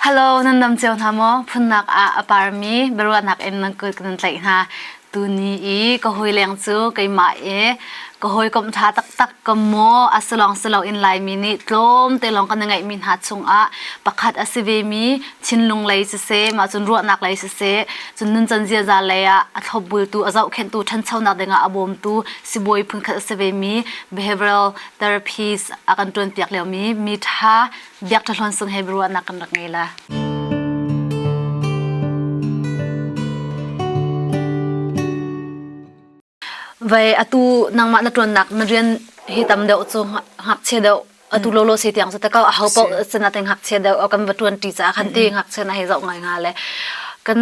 Hello, nan nam ceo hna maw? Phunnak ah a parmi biaruahnak in nan kut kan tlaih hna. Tuni i ka hoi leng cu keimah i ka hoi kom tha taktak ka maw a silong silo in laimi nih tlawm te lawng kan i ngaihmi hna chungah pakhat a si ve mi Chinlung lei siseh mah cun ruahnak lei siseh cun nuncan ziaza lei ah a thlopbultu a zohkhenhtu ṭhanchonak dingah a bawmtu sibawi phunkhat a si ve mi behavioral therapies a kan ṭuanpiak lio mi mi ṭha Biak Ṭha Hluan Sung Hebrew ruahnak kan rak ngei la. Vai atu nangmah na tuannak na rian hi tam deuh cu ngakchia deuh atu lo lo se tiang su takau a hau po sana te ngakchia deuh kan va tuan ti cha khan ti ngakchia na he zau ngai nga le kan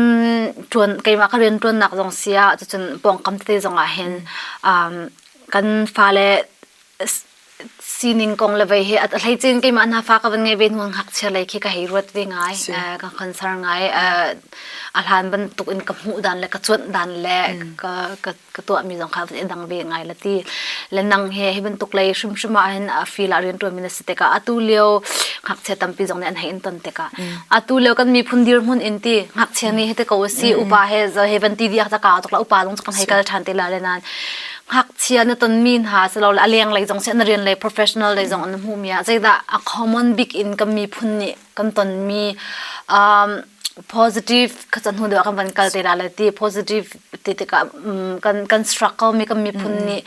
tuan keima ka rian tuan nak zong sia cun pongkam te zong ah hin um kan fale sining kong le vei hi at hlei cin keimah hna fa ka van ngai ve nuang hak chia lei khi ka hei ruat ve ngai ka concern ngai a hlan bantuk in ka hmuh dan le ka cuanh dan le ka ka tuah mi zong kha van dang ve ngai la ti le nang he hi bantuk lei hrim hrim ah hin a feel a rian tuan mi na si teka atu leo hak chia tampi zong ne an hei in ton teka atu leo kan mi phun dir mun in ti hak chia ni he te ko si upa he zo he van ti dia ta ka to la upa dong kan hei kal than te la le nan ngakchia na tonmi hna silole a lenglei zong si na rian lei professional lei zong na hmuhmi ah zeidah a common bik in kan miphun nih kan tonmi um, positive khacha hnu deuh kan van kal te la le ti positive ti tikah um, kan kan struggle mi kan miphun mm. nih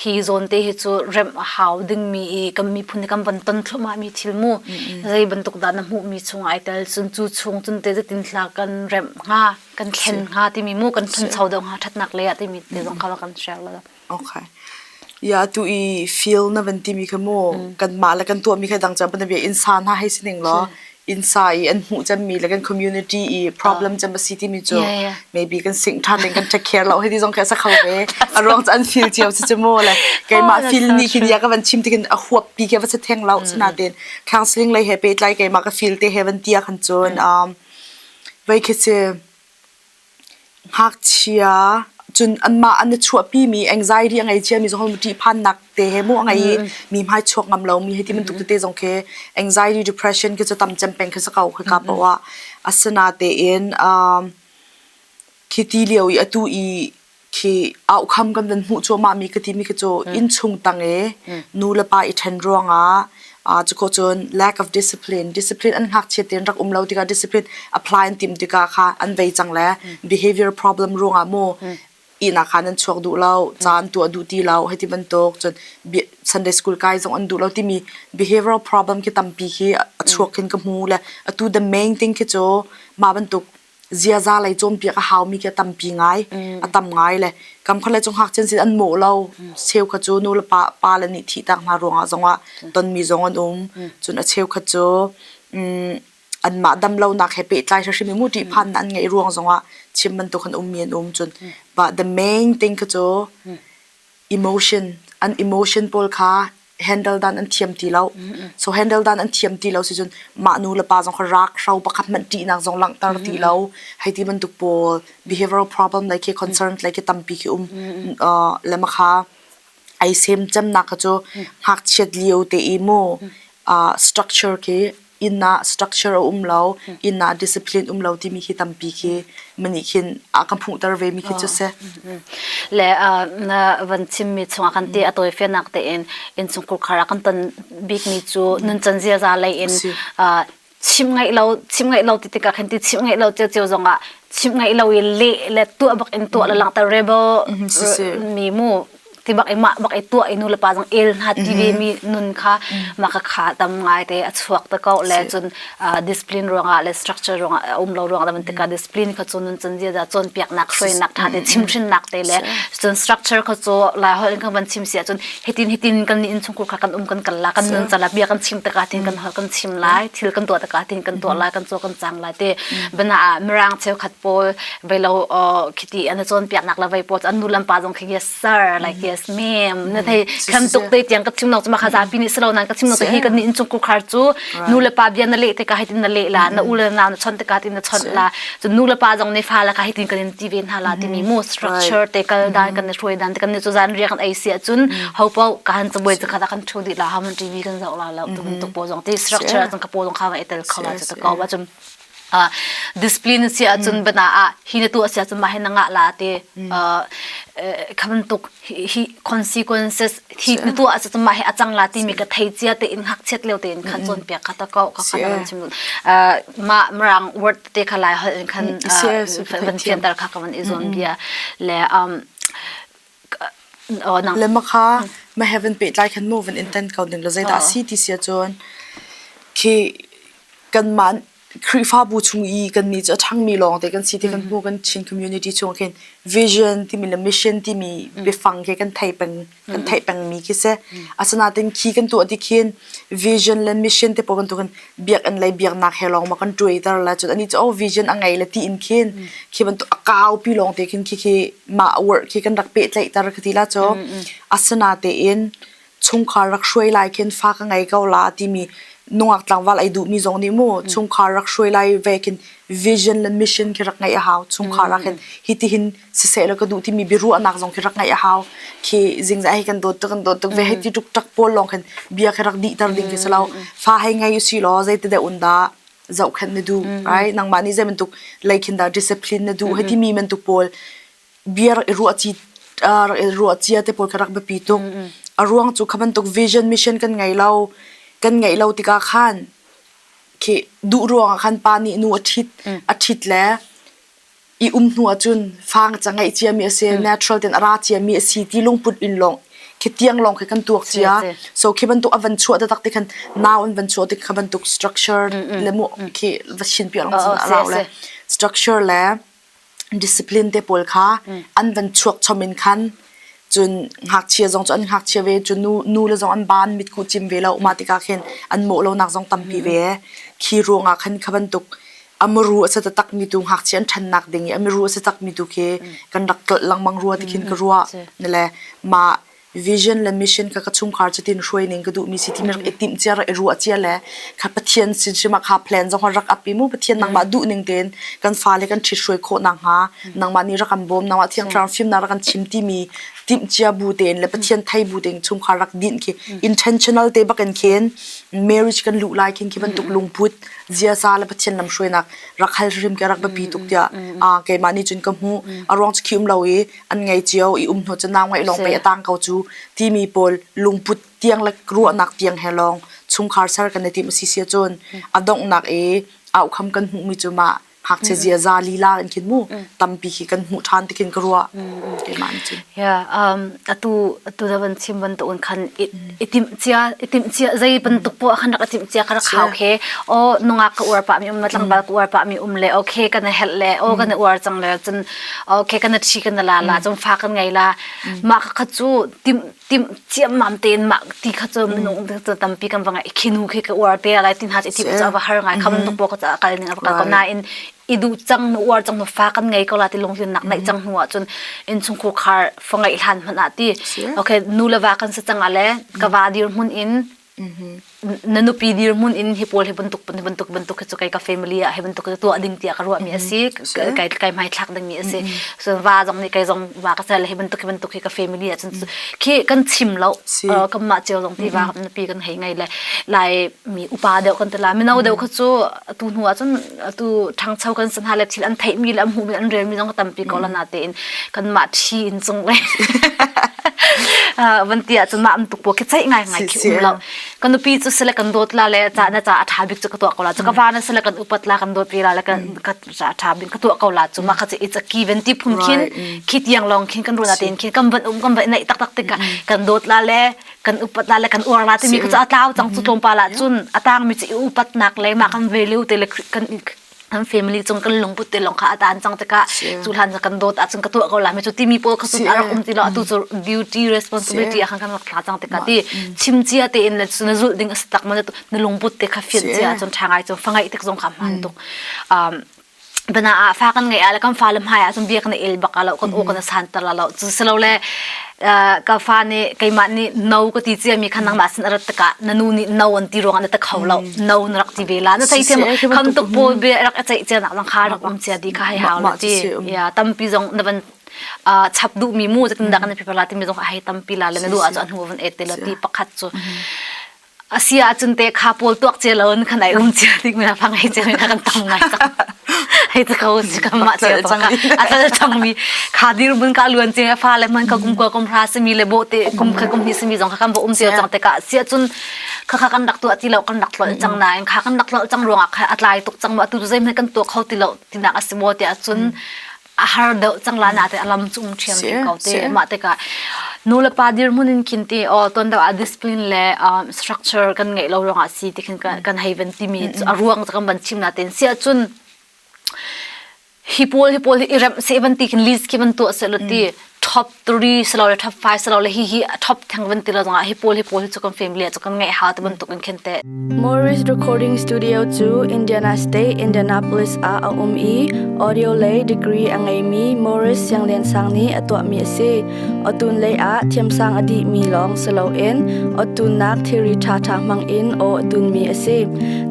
hi zone te hi chu rem a hau ding mi i kan miphun nih kan van ton thluma mi thil mu mm, mm. zei bantuk da na hmuh mi chung ai tel chun chu chung chun te zetin thla kan rem nga kan thlen hnga timi mu kan thancho deuh hnga thatnak lei ah timi te zong kha kan share la okay ya tu i feel na van ti mi kha mu kan mah le kan tuah mi kha dang chan pan bia insa na hai sining lo insa i an hmu chan mi le kan community i problem chan ba si ti mi chu maybe kan sing than ding kan check care lo hei ti zong kha sa kho ve a ruang chan feel chiao si chu mu le kai ma feel ni khin ya ka van chim ti kan a huap pi ke va se theng lo sana ten counseling lei he pe tlai kai ma ka feel te heaven tia khan chun um Vaikhece, ngakchia, cun anmah an i chuahpimi anxiety a ngei ciami zong hi ṭihphannak te he maw a ngei i mi hmai chuak ngam lomi hei ti bantuk tete zong khi anxiety, depression khi cu tam cem peng khi si ko hika poh ah. Asinatein, khi ti lio i atu i khi aukham kan nan hmuh cuahmah mi ka ti mi khi cu inn chung tang i nu le pa i ṭhen ruangah uh, cuko cun lack of discipline discipline an hngak chiat rak um lo tikah discipline apply an tim tikah kha an vei cang le behavior problem ruangah mo ina khan an chuak duh lo cha an tuah duh ti lo hei ti bantuk cun Sunday school kai zong an duh lo timi behavioral problem khi tampi khi a chuak khin ka hmu le atu the main thing khi cu ma bantuk ziaza lei cawnpiak a haumi khi a tampi ngai. A tam ngai le kamkhar le cu ngakchian sin an mawh lo. Cheukhat cu nu le pa pa le nih thihtak hna ruangah zongah tonmi zong an um. Cun a cheukhat cu um anmah damlonak he pehtlai hrimhrim i muṭih phannak an ngeih ruang zongah chim bantuk an ummi an um. Cun but the main thing khi cu emotion, an emotion pawl kha handle dan an thiam ti lo so handle dan an thiam ti lo si cun mah nu le pa zong kha rak hro pakhat hmanh ṭihnak zong langhter ti lo hei ti bantuk pawl behavioral problem le ke concern le ke tampi ke um le ma kha ai sem cemnak kha cu ngakchiat lio te i mu structure ke inn ah structure a um lo, inn ah discipline um lo timi hi tampi khi mi nih khin a kan hmuhter ve mi khi cu si. Le na van chimmi chungah kan te a tawifianak tein inchung kurkhar ah kan ton bikmi cu nuncan ziaza lei in chim ngaih lo chim ngaih lo ti tikah khan ti chim ngaih lo cio cio zongah chim ngaih lo i leh le tuah bak in tuah le langhter re bo mi mu ti bak i mah bak i tuah i nu le pa zong el hna ti ve mi nun kha ma ka kha tam ngai te a chuak te ko le cun discipline ruangah le structure ruangah a um lo ruangah man tika discipline kha cun nun cun zia da cawn piak nak hruainak tha te chim hrin nak te le cun structure kha cu la hol in kan van chim sia cun hitin hitin kan ni in chungkur kha kan um kan kal la kan nun cala bia kan chim taka tin kan hol kan chim lai thil kan tuah taka tin kan tuah lai kan tuah kan chang lai te bana mirang cheu khat pawl velo khiti an cawnpiaknak la vei pawl an nu lampa zong khi yes sir like yes ma'am na thei kan tuk te tiang ka thimnok cuma kha zapi nih silo nan ka thimnok te hi kan ni in cung kukhar cu nu le pa bia na le te ka hitin na le la na u le na na chon te ka tin na chon la cu nu le pa zong ne fa la ka hitin kan in ti ve hna la timi mo structure te kal dan kan ne thoi dan te kan ne chu zan ria kan ai sia cun ho pa ka han chuboi ka da kan thu di la ham tv kan zau la la tu tuk po zong ti structure zong ka po zong kha va etel kha la chu ka wa chum discipline si ahcun bana ah hi na tu a si ahcun mah hi na ngah la te khaman tuk hi consequences hi na tu ah ahcun mah hi a cang la ti mi ka thei cia te in hak chiat leo te in khan chon piak kha ta ko ka khan an chim ma mrang word te kha lai hol in khan van thian tar kha ka van i zon bia le um Le makha ma heaven pehtlai khan moving in tan ko ning law zeidah a si ti sia cun khi kanmah Khrihfabu chung i kannih cu a ṭhangmi lawng te kan si ti kan hmu kan Chin community chung khin vision timi le mission timi biafang khi kan thei peng kan thei pengmi khi si asinain khi kan tuah ti khin vision le mission te pawl bantukin biakinn lei biaknak he lawng ma kan tuaiter le cun anih cu oh vision a ngei le ti in khin khi bantuk a kaupi lawng te khin khi khi mah work khi kan rak pehtlaihter ka ti la cu asina tein chungkhar rak hruai lai khin fa ka ngei ko la timi nungak tlangval ai duhmi zong nih mu chungkhar rak hruai lai ve khin vision le mission khi rak ngeih a hau chungkhar ah khin hitihin siseh la ka duh timi biaruahnak zong khi rak ngeih a hau khi zingzah hi kan dawt tuk kan dawt tuk ve hei ti tuk tak pawl lawng khan bia khi rak dih tar ding khi selo fa hai ngai usi law zei te de un da zoh khan na du right nangmah nih zei bantuk leikhin da discipline na du hei ti mi man tu pawl bia rak i ruah chi rak i ruah chia te pawl kha rak biapi tuk a ruang chu khaban tuk vision mission kan ngei lo kan ngei lo tika khan khi du ruang khan pa nih nu a thit a thit le i um hnu ahcun fang ca ngeih ciami a si natural ten a ra ciami a si ti lungput in lawng khi tiang lawng khi kan tuak cia so khi bantuk a van chuah taktak ti khan nau an van chuah ti kha bantuk structure le mu khi va chin pi lawng cun a rau le structure le discipline te pawl kha an van chuak chom in khan cun ngakchia zong cu an ngakchia ve cu nu nu le zong an ban mitku cim ve lo mah tikah khin an mawh lonak zong tampi ve khi ruangah khan kha bantuk amuru a sa taktak mi tu ngakchia an ṭhannak ding i amiru a sa tak mi tu khi kan rak tlolh lengmang rua tikhin ka rua ne le ma vision le mission ka ka chungkhar cutin hruai ning ka duh mi si ti mi rak i timh cia rak i ruah cia le ka pathian sin sima kha plan zong rak api mu pathian nangmah duh ning tein kan fa le kan ṭhit hruai khawh nak hnga nangmah nih rak kan bawm nangmah thiangthlarang fimnak rak kan chim timi timhcia bu tein le pathian thei bu tein chungkhar rak dinh khi intentional te bakin khin marriage kan luh lai khin khi bantuk lungput ziasa le pathian lamhruainak rak hal hrim ke rak biapi tuk tiah a keimah nih cun ka hmu a ruang cu khium lo i an ngei cio i um hno cu nau ngai lawng pei atang ko cu timi pawl lungput tiang le ruahnak tiang he lawng chungkhar ser kan i tim si sia cun a donghnak i au kham kan hmuhmi cu mah hngakchia ziaza lila in khin mu tampi khi kan hmuh than tikin ka ruah keimah nih cun ya um atu atu da van chim ban to un khan itim cia itim cia zei bantuk po khan rak itim cia ka rak hau khe o nunga ka uar pa mi um ma tlangdal ka uar pa mi um le okay kana hel le o kana uar chang le cun okay kana thi kana la la chun fa kan ngai la ma ka chu tim tim ciammam tein ma ti kha cu minung cu tampi kan va ngai khinu khi ka uar te lai ti hna ti ti va har ngai kham nu po ka ca kal ning ka ko nain i du chang nu uar chang nu fa kan ngei ko la ti lung hlun nak naih chang hnu ah cun in chung khu khar fa ngai hlan man a ti okay nu le va kan sa chang ale ka va dir mun in na nupi dirhmun in hi pawl hi bantuk bantuk bantuk hi cu kai ka family ah hi bantuk hi tuah ding tiah ka ruah mi a si kai kai mai thlak ding mi a si so va zong nih kai zong va ka cel hi bantuk hi bantuk hi ka family ah cun khi kan chim lo kan mah cio zong ti va nupi kan hei ngai le lai mi upa deuh kan tala mino deuh kha cu tu hnu ah cun atu ṭhangcho kan san hna le thil an theihmi le an hmuhmi an relmi zong tampi ko la na tein kan mah ṭhi in cung le van ti ahcun mah am tuk puak khi ceih ngaingai khi um lo kan nupi cu sile kan dawt la le ca na ca a ṭha bik cu ka tuah ko la cu ka va na sile kan upat la kan dawt pi la le kan ka ca a ṭha bik ka tuah ko la cu ma kha ci it's a ki ven ti phum khin khi tiang lawng khin kan runa tein khin kan ban um kan ban nei tak tak tikah kan dawt la le kan upat la le kan uar la timi ku ca tlau cang cu tlawmpal ah cun atang mi ci upat nak le ma kan value te le kan kan family chung kan lungput te long kha atan chang te ka chu hlan ja kan dot a chung ka to ko la me chu timi po ka su ar kum ti lo atu chu duty responsibility ha kan rak tla chang te ka ti chim chia te in la su na zul ding astak man na lungput te kha fian chia chun thangai chun fangai tek zong kha man tuk um bana ah fa kan ngai ala kan fa le hmai ah cun biak na il bak alo kan u kan san tar la lo chu selo le ka fa nih keimah nih no ka ti cia mi khan nangmah sin arat taka na nu nih no an ti ruang na ta kho lo no na rak ti vela na thai sim kham tu po be rak achai cia nak lang kha rak um cia di ka hai hau la ti ya tampi zong na ban chap du mi mu jatin da kan phi pala ti mi zong hai tampi la le na du a chu a hnu van et te la ti pakhat chu asi ahcun te kha pawl tuak cia lo in kan ai rum cia tik mina phang hei cia mina kan tam ngai tak hei te ko si kan mah cia to ka atal chang mi kha dir mun ka luan cia fa le man ka kum kwa kum ra se mi le bo te kum kha kum ni se mi zong kha kan bo um cia chang te ka sia cun kha kha kan rak tu ati lo kan rak tlo chang na in kha kan rak tlo chang ruanga kha atlai tuk chang ma tu zai me kan to kho ti lo tinak asibo te acun a har deuh cang la na te alam chung thiam ti ko te ma te ka nu le pa dirmun in khin te o ton da discipline le um, structure kan ngei lo rong a si ti khin kan haven timi a ruang kan ban chim na ten sia chun hi pol hi pol hi irem se ban ti khin lis ki ban to se lo ti top 3 salo le top 5 salo le hi hi top theng van tila zong ah hi pawl hi pawl hi chu kan family chu kan ngai ha te bantuk in khen te Morris Recording Studio chu Indiana State Indianapolis ah a um i audio lei degree a ngei mi Morris Sianglian Sang nih a tuah mi a si otun lei ah thiamsang a dih mi lawng salo in otun nak theory tha tha hmang in o atun mi a si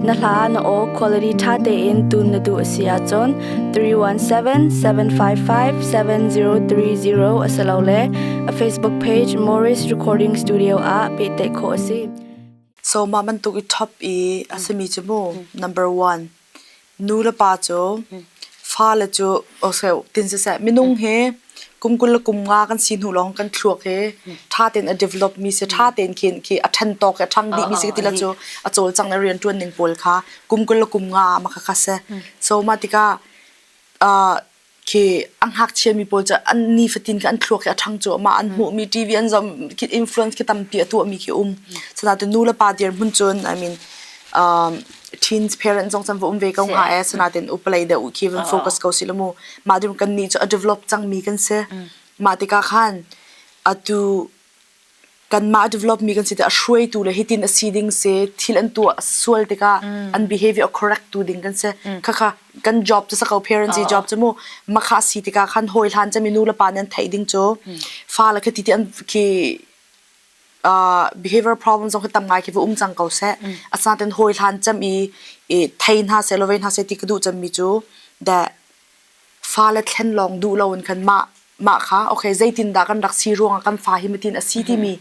na hla na o quality tha te in tun na du a si a chon three one seven seven five five seven zero three zero a si lo le a Facebook page Morris Recording Studio ah pehtlaih khawh a si. So mah bantuk i top i a simi cu mu number one nu le pa cu fa le cu o se tin se se minung he kum kul le kum nga kan si hnu lawng kan thluak hi ṭha tein a develop mi si ṭha tein khin khi a ṭhen tawk hi a ṭhang dih mi si ti la cu a cawlcang le rianṭuan ning pawl kha kum kul le kum nga ah maka kha se so mah tikah uh, khi an hngakchia mi pawl cu an nifatin ke an thluak hi a ṭhang cu ma an hmuh mi TV an zom khi influence khi tampi a tuah mi khi um so da tu nu le pa dir mun cun I mean um, teens parents zong chan va um ve ko nga e sanaten upalei de u khi van focus ko si lo mu ma dim kan ni chu a develop changmi kan si ma tika khan atu kan ma develop mi kan si te a shuai tu le hitin a si ding se thil an tu sual tika an behavior correct tu ding kan se khakha kan job to sakau parents i job chamu makha si tika khan hoi hlan chami nu le pa nan thai ding cho fa la khati ti an ki uh, behavior problem zong hi tam ngai khi va um cang ko seh mm. asnaten hawi hlan cem i i thei hna se lo ve hna se ti ka duh cem mi cu da fa le thlen long du lo in khan ma ma kha okay zeitin da kan rak si ruang kan fa hi matin asi ti mi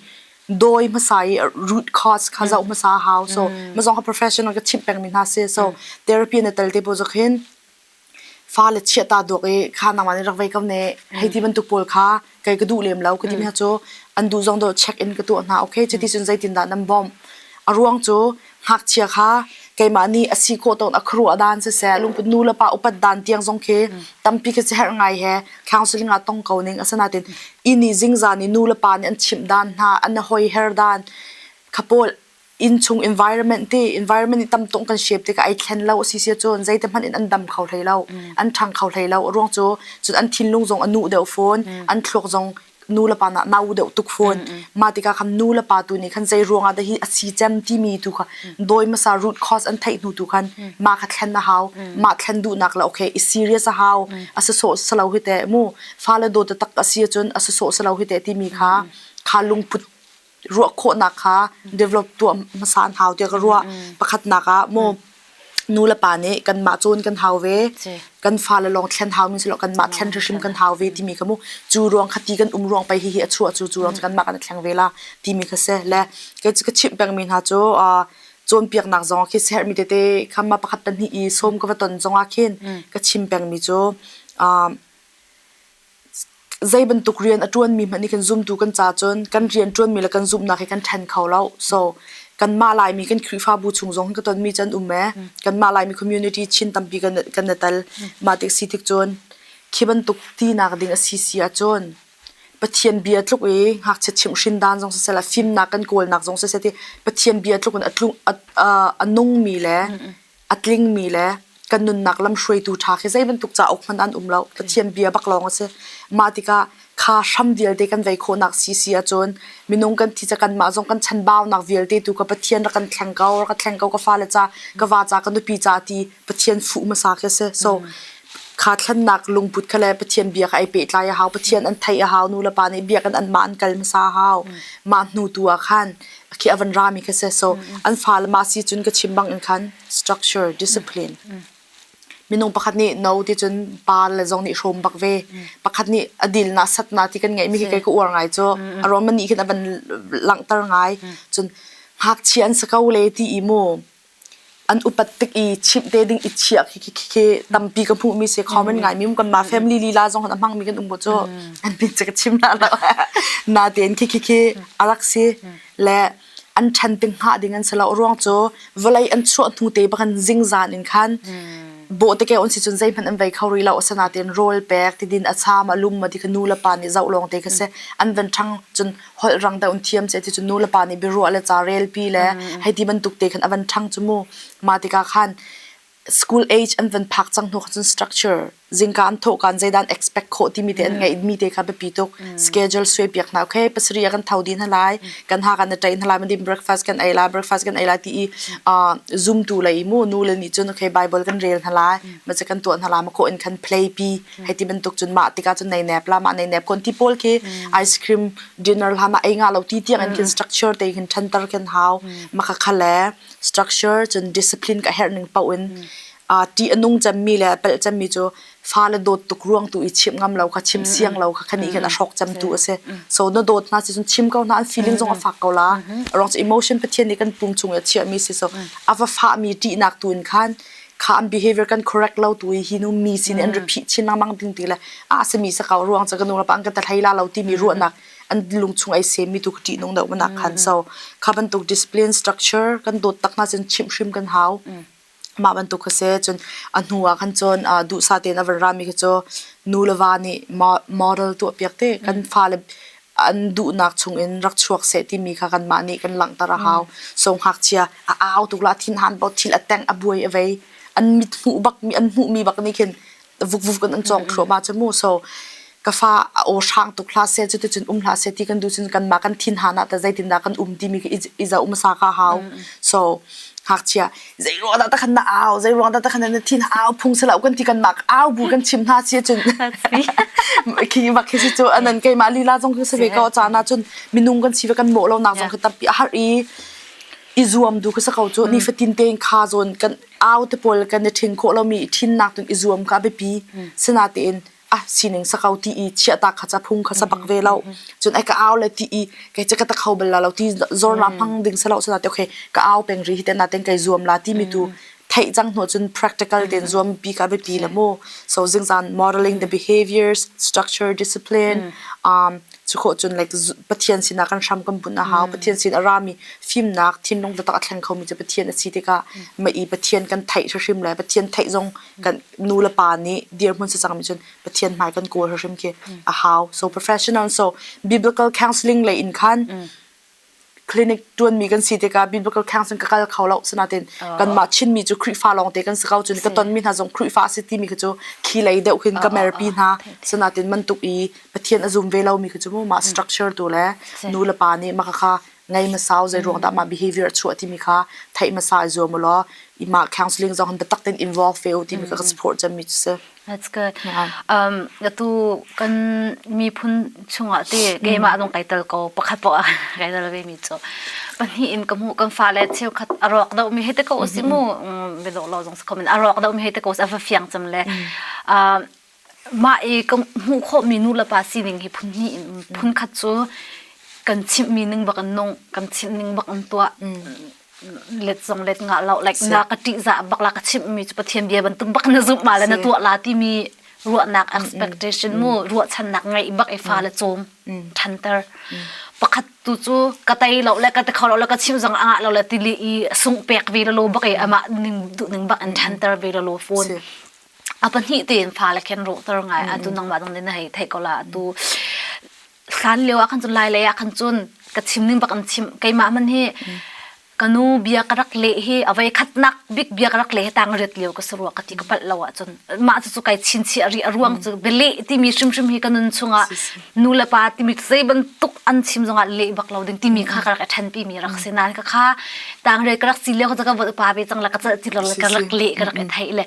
doi masai root cause kha zau masa how so ma zong ha professional ka chip peng mi hna se so therapy na tal te po zokhin fale chiahta dawk i kha nangmah nih rak vei ko ne hei ti bantuk pawl kha kei ka duh lem lo ka ti mi hna cu an duh zong dawh check in ka tuah hna okay cuti cun zeitindah nan bawmh a ruang cu ngakchia kha keimah nih a si khawh tawn a khuaruah dan siseh lungput nu le pa upat dan tiang zong khi tampi khi siherh ngai he thlang siling ah tong ko ning asinain i nih zingzan i nu le pa nih an chimh dan hna an i hoi her dan kha pawl innchung environment te environment i tam tuk kan shape tikah ai thlen lo a si sia cun zeite hmanh in an dam kho hlei lo an ṭhang kho hlei lo a ruang cu cun an thinlung zong a nuh deuh fawn an thluak zong nu le pa nah nau deuh tuk fawn mah tikah khan nu le pa tu nih khan zei ruangah dah hi a si cem timi tu kha dawi hmasa root cause an theih hnu tu khan mah kha thlen a hau mah thlen duhnak la okay i serious a hau a si sawh selo hi teh mu fale dawt tak a si cun a si sawh selo hi teh timi kha kha lungput ruah khawhnak kha develop tuah hmasa an hau tiah ka ruah. Pakhatnak ah maw nu le pa nih kanmah cun kan hau ve. Kan fale lawng thlen haumi si lo kanmah thlen hrim kan hau ve timi ka hmuh. Cu ruang kha ti kan um ruang pei hihi a chuah cu cu ruang cu kanmah kan thleng ve la timi kha si. Le ka chimh pengmi hna cu cawnpiaknak zong ah khi siaherhmi tete khamma pakhat pahnih i sawm ka va ton zong ah khin ka chim pengmi cu Zeibantuk rian a ṭuanmi hmanh nih kan zumtu kan ca cun kan rian ṭuanmi le kan zumhnak hi kan ṭhen kho lo. So kanmah Laimi kan Khrihfabu chung zong hin ka tonmi cu an um ee. Kanmah Laimi community chin tampi kan kan i tel. Mah tik si tik cun khi bantuk tinak ding a si si ahcun Pathian bia tluk i ngakchia chimhhrin dan zong siseh le fimnak kan kawlnak zong siseh ti Pathian bia tluk in a tlung a nungmi le A tlingmi le kan nunnak lamhruaitu ṭha khi zei bantuk cauk hmanh an um lo. Pathian bia bak lawng a si. Mah tikah kha hram vialte kan vei khawhnak si si ahcun minung kan thi ca kanmah zong kan chanbaunak vialte tu ka Pathian rak kan thleng ko, rak ka thleng ko ka fale ca, ka va ca, ka nupi ca ti Pathian fuh hmasa khi a si. So kha thlennak lungput kha le Pathian bia kha ai pehtlai a hau. Pathian an theih a hau. Nu le pa nih bia kan an mah an kal hmasa a hau. Mah hnu tu ah khan khi avan rami kha se so an fa le ma si cun ka chim bang in khan structure discipline minung pakhat nih no ti cun pa le zong nih hrawm bak ve pakhat nih a dil na sat na ti kan ngaih mi hi kai ka uar ngai cu a rom ani khin avan langhter ngai cun ngakchia an sa ko le ti i mu an upat tik i chimh te ding i chiah khi khi tampi ka hmuh mi si common ngai mi kan mah family lila zong a hmang mi kan um cu an min cu ka chim na lo na ten khi khi khi arak si le an than ping ha ding an si lo ruang cu vawlei an chuah hnu te bakan zing zan in khan bo te ke on si chun zei hman an vai kho ri lo asana ten rol pek ti din a cham a lum ma di ka nu le pa ni zau long te ka se an van thang chun holh rang deuh in thiam seh ti cu nu le pa nih biaruah le ca relpi le hei ti bantuk te khan a van ṭhang cu mu. Mah tikah khan school age an van phak cang hnu cun structure zingka an thawhkan zeidan expect khawh timi te an ngeih mi te kha biapi tuk schedule suai piak hna okay pasari a kan thau din halai kan ha kan tain halai madim breakfast kan ei la breakfast kan ei la ti i zoom tu lei mu nu le nih cun okay bible kan rel halai ma kan tuan hala ma ko in kan play pi Hei ti bantuk cun mah tikah cun neinep la mah neinep kon ti pawl khi ice cream dinner la mah ei nga lo ti tiang an khin structure te hin thantar kan hau maka khale structure cun discipline ka herh ning pau in a ti anung chemmi le pel chemmi cu fa le dawt tuk ruang tu i chim ngam lo kha chim siang lo kha khani khin a hrok cham tu ase so no dawt na si cun chim ko na an feeling zong a fak ko la rong emotion pathian ni kan pung chung ya chia mi si so ava fa mi ti nak tu in khan kha an behavior kan correct lo tu hi nu mi sin an ri phih chin lengmang ding ti le a sami sa kau ruang cha ka nu rapa an ka ta thlai la lo ti mi ruahnak an lung chung ai sem mi tu ka ti nung deuh manak khan so kha bantuk discipline structure kan dot tak na sin chim hrim kan hau mah bantuk kha se cun a hnu ah khan cun du sa te na van ra mi kha cho nu le va nih model tu piak te kan fa le an duhnak chungin rak chuak seh timi kha kanmah nih kan langhter a hau. So ngakchia a au tuk la thin han bo thil a teng a buai a vei an mit hmuh bak mi an hmuh mi bak nih khin vukvuk in an cawng thluam ah mu so ka fa a o hrang tuk hla se cu tucun um hla se ti kan du cun kan ma kan thin hana ta zeitin dah kan um ti mi i za um sa ka hau so ngakchia zei ruang dah takhan na au zei ruang dah takhan na thin au phung selo kan ti kan mak au bu kan chim hna si cun khi bak khi si cu anan keimah lila zong kan save ko cha na cun minung kan si ve kan mo lo nak zong kan tampi a har i i zuam du ka sako cu ni fatin te kha zon kan au te pol kan ni thin ko lo mi thin nak tun i zuam ka be pi sena te in ah sining sa ko ti i chiahta kha ca phung kha sa bak ve lo cun ai ka au le ti i ke che ka ta kho bal la lo ti zor la phang ding sa lo sa te okay ka au peng ri hi ten na ten kai zuam la ti mi tu thai chang no chun practical ten zuam pi ka be ti na mo so jing zan modeling the behaviors structure discipline um chu kho chun like pathian sina kan sham kam bun na hau pathian sin arami film nak thim nong ta tak thleng kho mi che pathian asi te ka ma i pathian kan thai shrim le pathian thai zong kan nu le pa nih dirhmun si cangmi cun Pathian hmai kan kawl hrim khi a hau. So professional so biblical counseling lei in khan clinic tuanmi kan si tikah biblical counseling ka kal kho lo sinain kanmah Chinmi cu Khrihfa lawng te kan si ko cun ka tonmi hna zong Khrihfa a si timi khi cu thli lei deuh khin ka merpi hna sinain man tuk i Pathian a zum ve lomi khi cu mu mah structure tu le nu le pa nih maka kha ngei hmasau zeiruang dah mah behavior a chuah timi kha theih hmasa i zuam u law i mah counseling zong biatak tein involve ve u timi kha ka support cemmi cu si. That's good. Um atu kan miphun chungah te keimah zong kai tel ko pakhat poah kai tel ve mi cu pahnih in ka hmuh kan fale cheu khat a rawk do mi hete ko si mu be lo lo zong si komen a rawk do mi hete ko a va fiang cem le mah i kan hmuh khawhmi nu le pa sining hi phun hnih in phun khat cu kan chimhmi ning bak in nung kan chimh ning bak in tuah let zong let ngah lo like na ka ṭihzah bak la ka chimhmi cu Pathian bia bantuk bak na zumh ma le na tuah la timi ruahnak expectation mu ruahchannak ngeih bak i fa le cawm ṭhanter pakhat tu cu ka tei lo le ka te khor lo ka chim zong anga lo le tili i sung pek ve lo bak i amah ning duh ning bak in ṭhanter ve lo phone a pahnih tein fale khen rawhter ngai atu nangmah dong na hei thei ko la atu hlan lio ah khan cun lai lei ah khan cun ka chim ning bak an chim keimah man hi kanu bia ka rak le hi avei khatnak big bia ka rak le hi tang ret lio ka sarua ka ti ka pal lo ah cun mah cu kai chin chi a ri a ruang cu bele timi hrimhrim hi ka nun chungah nulepa timi zei bantuk an chim zongah leh bak lo ding timi kha ka rak ṭhenpi mi rak si nain ka kha tangre ka rak si leo ka va pa ve cang la ka cah ti lo ka rak leh ka rak thei le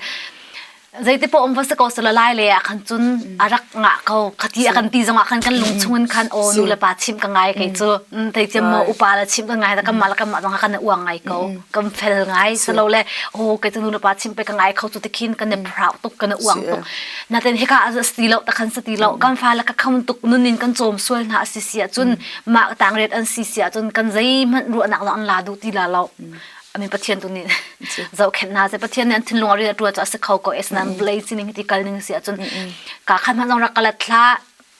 zeite po om va se ko se la lai le a khan chun arak nga ko khati a kan ti zongah khan kan lung chungin khan o nu le pa chim ka ngai kai chu tai tiam mo upa la chim ka ngai da kamma la kamma zong kan uang ngai ko kam fel ngai selo le o kai chu nu le pa chim pe ka ngai kho chu tikhin kan ne proud tuk kan uang tuk naten heka as ti lo takhan sa ti lo kan fa la ka kham tuk nun in kan chom sual na si si cun ma tang ret an si si cun kan zei man ru nak an la du ti la lo ami pathian tu ni zau khen na se pathian ne thin lung ri tua to as kho ko es nan blay chi ni ti kal ning si cun ka khan man rak kalat thla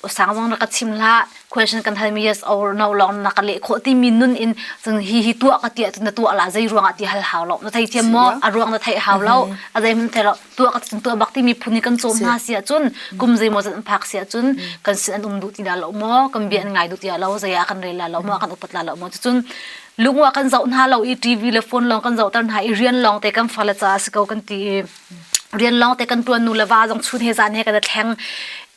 usang wang na ka chim la question kan hal mi yes or no long na ka leh khawh ti mi nun in cun hi hi tua ka tia na tua la zei ruang ah ti hal hau lo na thei thiam mo a ruang na thei hau lo a zei mun thei lo tua ka cun tua bak ti mi phun kan chom na sia cun kum zei mo zan phak sia cun kan sin an um du ti da lo mo kan bien ngai du ti lo zai a kan rel la lo mo kan upat la lo mo cun lungwa kan zau hna lo i tv le phone long kan zau tar hna i rian long te kan fala cha se ko kan ti rian lawng te kan tuan nu le va zong chun he zan he kan i thleng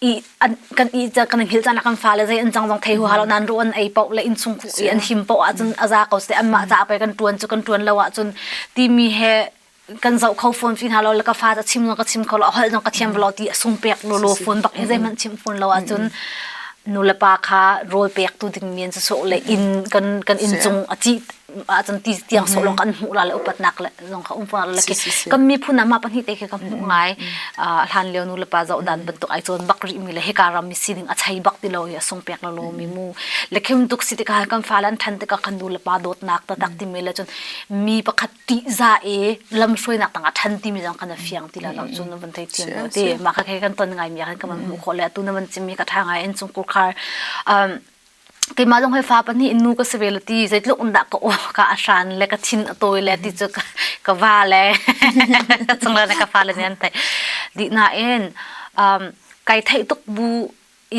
i an kan i kan i hngilh caan ah kan fale zei an cang zong thei hu halo nan ru an ei poh le inn chung khu i an him poh ahcun a za ko seh an mah ca pei kan tuan cu kan tuan lo ahcun timi he kan zoh kho phone fi hna lo le ka fa ca chim zong ka chim kho lo a holh zong ka thiam velo ti a sung pek lo lo phone bak hi zeihmanh chim phun lo ahcun nu le pa kha rawl pek tu ding men cu soh le inn kan kan inn cung a ci ahcun ti tiang sawh lawng kan hmuh la le upatnak lawng kha um fung la ke kan miphun ah ma pahnih te khi kan hmuh ngai hlan leo nu le pa zoh dan bantuk ai cun bak ri mi le hika ram mi sining a chai bak ti lo i a sung pek la lo mi mu le khim tuk si tika kan fa lan than tika kan nu le pa dawt nak ta tak ti mi le cun mi pakhat ti za e lam hruai nak tang a than ti mi zang kan fiang ti la lo cun van thei thiam lo ti ma ka ke kan ton ngai mi kan kan hmu kho le tu na man chim mi ka tha ngai en chung kur khar keimah zong hei fa pahnih in nu ka si ve lo ti zeitluk in dah ka uam ka ahran le ka thin a tawi le ti cu ka, ka va le ka chung le ka fa le nih an theih dih nain um, kai theih tuk bu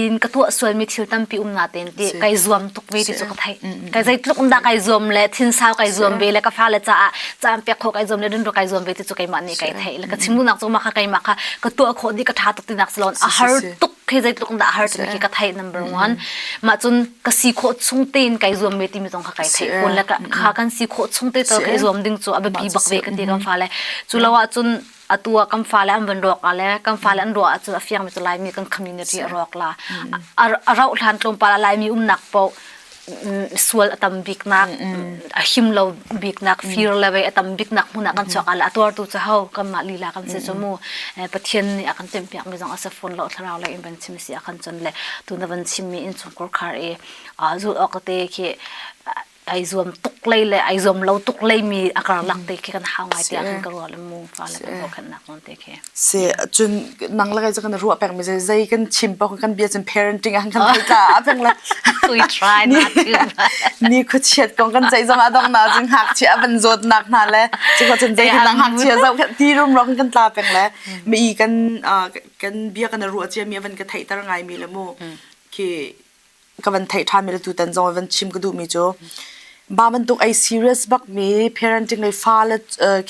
in ka tuah sualmi thil tampi um na ten ti kai zuam tuk ve ti cu ka theih kai zeitluk in dah kai zuam le thinsau kai zuam ve le ka fa le caah caan pek kho kai zuam le rinro kai zuam ve ti cu keimah nih kai theih le ka chim dunak cu mah kha keimah kha ka tuah khawh di ka tha tuk tinak si loin a har tuk khi zeitluk dah har cun khi ka thai number 1 ma cun ka si kho chung tein kai zuam ve timi zong kha kai thai kun la kha kan si kho chung te to kai zuam ding chu a biapi bak ve ka ti kan fa le chu lo a cun atua kam fa le an van ruak a le kam fa le an ruwa cu a fiang mi chu lai mi kan community a ruak la a rau hlan tlom pa la lai mi um nak po sual a tam biknak a him lo biknak fir le ve a tam biknak hmun ah kan chuak ala a tuartu cu ho kan mah lila kan si cu mu pathian nih a kan tempiak mi zong a se fun lo thlarau le in van chim si a kan chon le tun van chim mi in chung kor khar i zul ok te khi ai zuam tuk lei le ai zuam lo tuk lei mi a kar lak te khi kan hau ngai tiah kan ka rual mu fa le kan kokhan nak non te Si cun nang le kei cu kan i ruah pengmi zei zei kan chim paoh kan bia cun parenting ah kan hal tla a peng le we try not to ni khuachiat kong kan ceih zong ah dong na cun hak chi a van zawt nak hna le cu kho cun zei nang hak chia zau ti rum ro kan tla peng le mi kan kan bia kan i ruah cia mi van ka theih tar ngai mi le mu ki ka van theih ṭhan mi le tutan zong van chim ka duh mi cu ba bantuk ei serious bak mi parenting le fale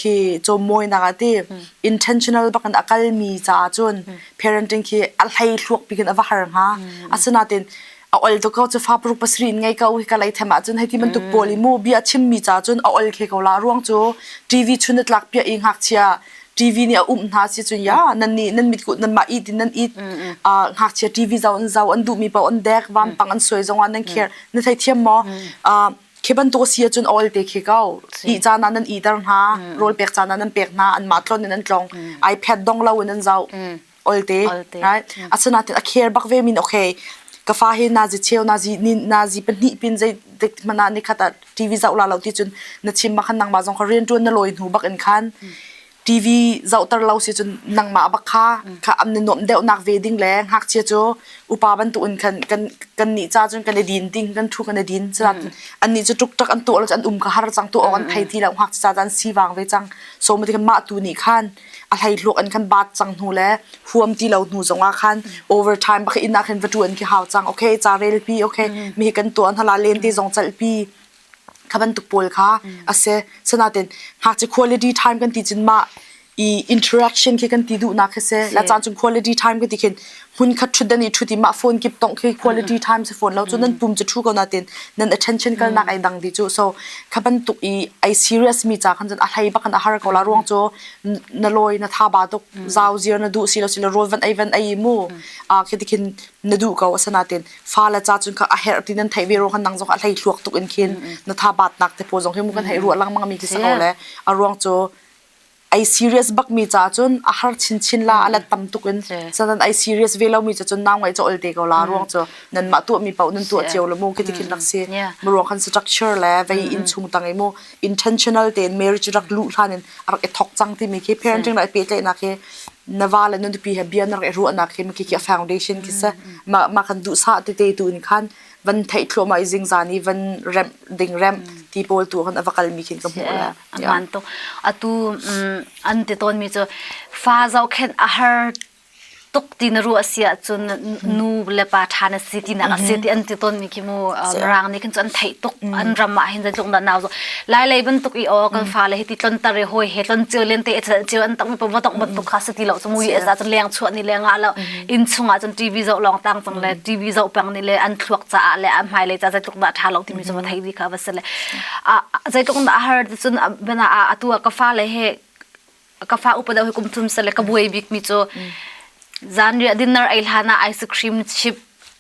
khi cho mawinak a ti intentional bak in a kal mi caah cun parenting khi a hlei thluak pikin a va har hnga asinain a ol to ko chu fa paruk pasri in ngai ka u hi ka lei them ah cun hei ti bantuk pawl i mu bia chim mi ca cun a ol khe ko la ruang cu tv chun tlak pia i ngak chia TV nih a umh hna si cun ya nannih nan mit kut nanmah it in nan it ngakchia TV zau an zau an duhmi pa an dek vampang an suai zongah nan care na thei thiam maw khi bantuk si cun oil te khi ko i cana nan i der hna rawl pek cana nan pek hna an mah tlon in an tlong ipad dong lo in an zau oilte right asinain a care bak ve min okay ka fa hi na zi cheu na zi ni na zi pahnih pin zei dik mana ni khata tv zau la lo ti chun na chim ma khan nang ma zong ka rian tuan na loi hnu bak in khan tv zau tar lo si chun nang ma bak kha kha am na nom deu nak ve ding le hak che chu upa ban tu in kan kan kan ni cha chun kan le din ding kan thu kan din chla an ni chu tuk tak an tu lo an um ka har chang tu on thai ti lo hak cha dan si wang ve chang so ma ti ma tu ni khan a hleihluak an kan bat cang hnu le huam ti lo hnu zongah khan overtime bak in ah khin va tuan khi hau cang okay ca rel pi okay mi kan tuan hala len ti zong chal pi kha bantuk pawl kha ase sanaten ngakchi quality time kan ti chin ma i interaction khi kan ti du na khe se la chan chung quality time kan ti khin hmunkhat ṭhut dan i ṭhut i mah phone kip tongh khi quality time si fawn lo cu nan pum cu ṭhu ko natin nan attention kalnak ai dang di cu so kha bantuk i ai serious mi ca khan cun a hlei bakan a har ko la ruang cu na lawi na tha ba tuk zau zir na duh si lo si lo rol van ai van ai mu a khi tikhin na duh ko asanatin fa la cha cun kha a her ti nan thai ve ro kan nang zong a hlei thluak tuk in khin na tha bat nak te po zong hi mu kan hei ru langmang mi ti sa ko le a ruang cu Ai serious bakmi ca cun a har chinchin la a lat tam tuk in so nan ai serious ve lomi cu cun nau ngaih cu ol te ko la ruang cu nanmah tuahmi paoh nan tuah cio lo mu kiti khin rak si mu ruang khan structure le vei in chung tang i mu intentional tein marriage rak lu hlan in a rak i thok cang timi khi parenting la pe tle na khi na va le nun pi he bian rak i ruah na khi ki ki foundation ki se ma ma khan du sa te te tu in khan van thei thlo ma i jing zani van ramp ding ramp ti pol tu hun avakal mi khin ka mu la a ngan tuk atu an ti tawnmi cu fa zohkhenh a har tuk ti na ruah si ahcun nu le pa ṭha na si tinak a si ti an ti tawnmi khi mu rang nih khin cu an theih tuk an ram ah hin zeitluk dah nau lai lai bantuk i aw kan fa le hi ti tlon tar i hoi he tlon cio len te cio an tak mi pa vodok bantuk kha si ti lo mu yes a cun leng chuah ni leng ah lo inn chung ah cun TV zo long tang cang le TV zo pang ni le an thluak ca le a hmai le ca zeitluk dah ṭha lo timi cu va thei vi kha va se le zeitluk dah har cun bana a tu ka fa le he ka fa upa deuh he kum thum sale ka buai bik mi cu zan ria dinner ai hlana ice cream chip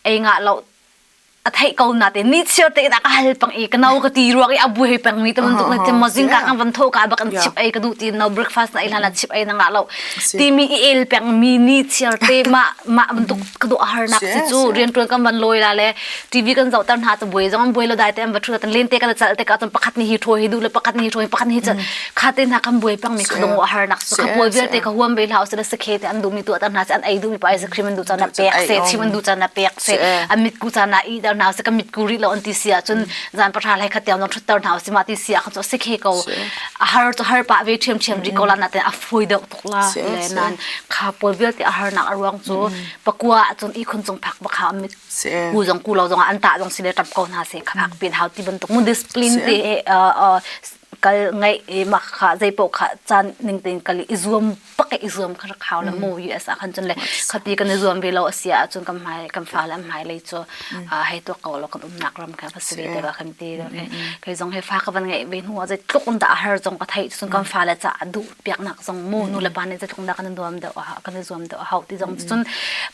ei nga lo a thei ko na te ni chiar te da ka hal pang i ka nau ka ti ruak i abu he pang mi te mun tuk na te ma zing ka kan van tho ka ba kan chip ai ka du ti no breakfast na ila na chip ai na nga lo ti mi i el pang mi ni chiar te ma ma mun tuk ka du har nak chi chu rian tuan kan van loila le TV kan zohter hna tu buai zong buai lo dai te an va thu tan len te kan chal te ka ton pakhat ni hi tho hi du le pakhat ni hi tho hi pakhat ni hi chal kha te na kan buai pang mi ka dong har nak so ka buai vel te ka huam be lau se da se khe te an du mi tu tan na se an ai du mi pa ice cream an du chana pek se chim an du chana pek se an mit ku chana i dar na se ka mit ku ri lo an ti sia chun zan pa tha lai khatyam nom thutter na se ma ti sia khan so se khe ko har to har pa ve thiam thiam ri ko la na te a foi deuh tok la le nan kha pol vel ti a har nak ruang chu pakwa chun i khun chung phak ba kha mit Si. Ku zong ku lo zong an tah zong si le tap ko hna se kha pin hau ti bantuk mu discipline si. te uh, uh, kal ngai e ma kha zai po kha chan ning tin kal i zuam pak i zuam kha khao la mu US a khan chun le khati kan zuam ve lo asia chun kam mai kam fa la mai lei chu hei to ko lo kan um nak ram kha phasi te ba khan ti do ke kai zong he fa ka ban ngai ve nu a zai tluk un da har zong ka thai chun kam fa la cha du piak nak zong mu nu le pa ne zai thong da kan zuam da ha kan zuam da hau ti zong chun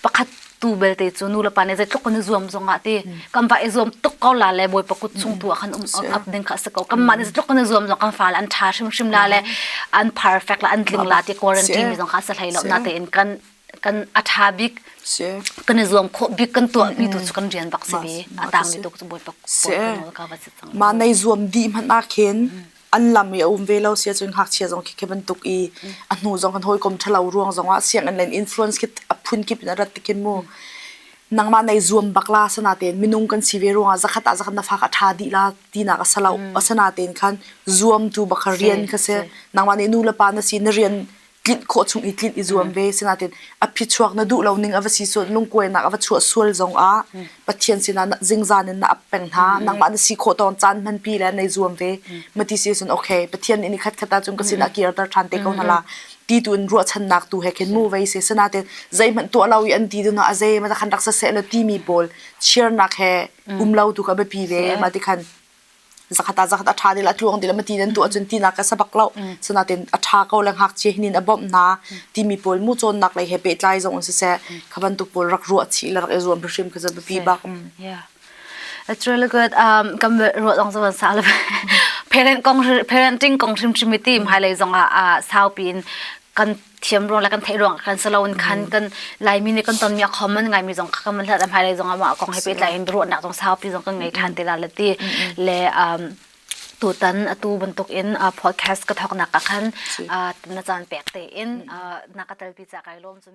pakhat tu belte cu nu le pa nih zeitluk kan i zuam zong ah ti kan va i zuam tuk ko la le bawi pakut chung tu ah khan um ap ding kha a si ko kan mah nih zeitluk kan i zuam zong kan fa le an tha hrimhrim la le an perfect la an tling la ti quarantine mi zong kha sa hlei lo na tein kan kan a tha bik kan i zuam khawh bik kan tuah mi tu cu kan rian bak si bi a tang mi tu cu bawi pakut ka va si cang ma nei zuam di hman a khen an lam i a um ve lo sia cun ngakchia zong khi khi bantuk i a hnu zong kan hawikom ṭhalo ruang zong ah sianginn len influence khi a phun kip in a rat tikin mu nangmah nei zuam bak la sana tein minung kan si ve ruang ah zakhat ah zakhat na fa ka ṭha dih la tinak a salo asana tein khan zuamtu bak rian kha se nangmah nih nu le pa na si na rian tlinh khawh chung i tlinh i zuam ve sinain a phichuak na duh lo ning a va si sual lungkuainak a va chuah sual zong ah Pathian sinah zingzan in na ap peng hna nangmah na si khawh tawn caan hmanpi le nay zuam ve ma ti si sun okay Pathian nih ni khat khat cun ka sinah kirter than te ko hna la ti tu in ruahchannak tu he khin mu ve se sanatin zeihmanh tuah lo i an ti duna a ze ma ta khan raksa se la ti mi pawl cheernak he um lo tu ka biapi ve ma ti khan zakhat ah zakhat a ṭha dil a tluang dil a ti nan tuah cun tinak ka sabak lo sinatin a ṭha ko le ngakchia hinin a bawmh na timi pawl mu cawnnak lei he pehtlai zong in siseh kha bantuk pawl rak ruah chih le rak i zuam hrim ka zan pi bak It's really good. Um, kan ruat dong zo sa le parent kong parenting kong hrim hrim ti mai lei zong ah saupi in kan thiam ruang le kan theih ruang khan saloin khan kan laimi nih kan tonmi akhom an ngaimi zong kha kan van hlat a hmailei zong ah mah kong he pehtlai in ruahnak zong saupi zong kan ngei ṭhan ti la le ti le um, tutan atu bantuk in uh, podcast ka thawk nak ah khan uh, na caan pek te in uh, na ka telpi cha kai lawm cun